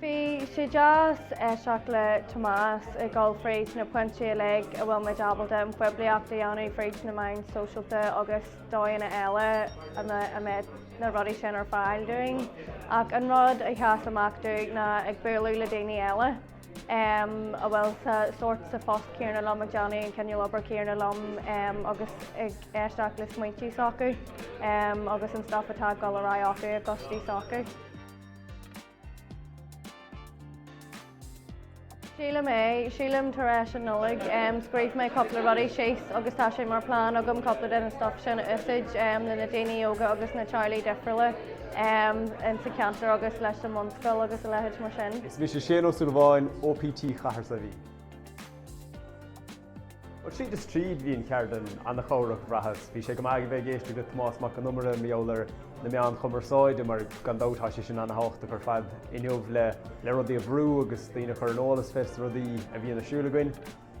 Bhí sé deas éisteacht le Tomás ag dul fríd na pointí uilig a bhfuil muid ábalta an poiblíocht a dhéanamh fríd na meáin sóisialta agus dóigheanna eile a mbeidh na rudaí sin ar fáil dúinn. Ach an rud a sheas amach dúinn ná ag bualadh le daoine eile a bhfuil sa sórt, sa phost céanna liom, ag déanamh an cineál obair céanna liom agus ag éisteacht le smaointí s'acu agus an stuif atá ag dul ar aghaidh acu i gcoistí s'acu. Sílim é, sílim tar éis an Nollaig scríobh mé cúpla rudaí síos agus tá sé mar plean agam cúpla den stuif sin a úsáid leis na daoine óga agus na teaghlaigh difriúla insa ceantar agus leis an mbunscoil agus a leithéid mar sin. Is mise Seán Ó Súilleabháin, OPT Chathair Saidhbhín. Bhuel, tríd is tríd bhí an cheardlann an-chabhrach, bhraitheas. Bhí sé go maith a bheith ag éisteacht le Tomás Mac Con Iomaire mar gheall ar na meáin chumarsáide mar gan dabht tá sé sin an-thábhachtach ar fad inniu le rudaí a bhrú agus daoine a chur ar an eolas fés na rudaí a bhíonn ar siúl againn.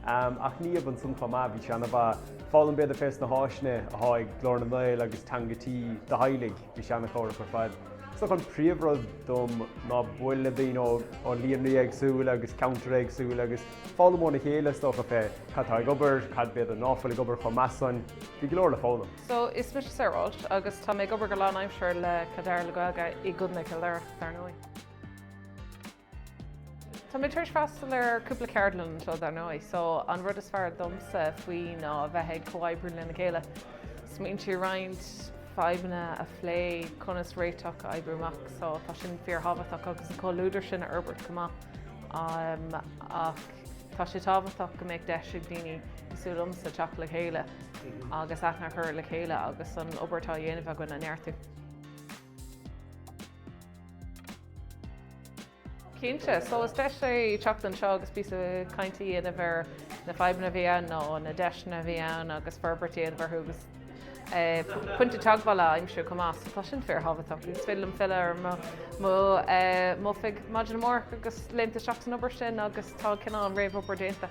Ach ní hamháin san chomh maith, bhí sé an-mhaith foghlaim b'fhéidir fés na háiseanna atá ag Glór na nGael agus Teanga Tí do theaghlaigh, bhí sé an-chabhrach ar fad. Is dócha an príomhrud dom ná bualadh le daoine ó líonraí éagsúla agus ceantair éagsúla agus. foghlaim óna chéile is dócha fé cad atá ag obair, cad b'fhéidir ná fuil ag obair chomh maith so. Bhí go leor le foghlaim. So, is mise Sarah Walsh agus tá mé ag obair go lánaimseartha le Cill Dara le Gaeilge i gContae Chill Dara, dar ndóigh. Tá mé tar éis freastal ar cúpla ceardlann seo dar ndóigh, so an rud is fearr domsa faoi ná bheith ag comhoibriú lena chéile, smaointí a roinnt, fadhbanna a phlé conas réitigh a oibriú amach, so tá sin fíorthábhachtach agus an comhluadar sin a fhorbairt chomh maith. am ach tá sé tábhachtach go mbeadh deis ag daoine, cosúil liomsa, teacht le chéile agus aithne a chur le chéile agus an obair atá á dhéanamh againn a neartú. Cinnte, so is deis é teacht anseo agus píosa cainte a dhéanamh ar na fadhbanna a bhíonn ann nó na deiseanna a bhíonn ann agus forbairt a dhéanamh orthu agus. Pointe teagmhála a aimsiú chomh maith, so tá sin fíorthábhachtach. Is féidir liom filleadh ar mo mo m'oifig maidin amárach agus léimt isteach san obair sin agus tá cineál an réamhobair déanta.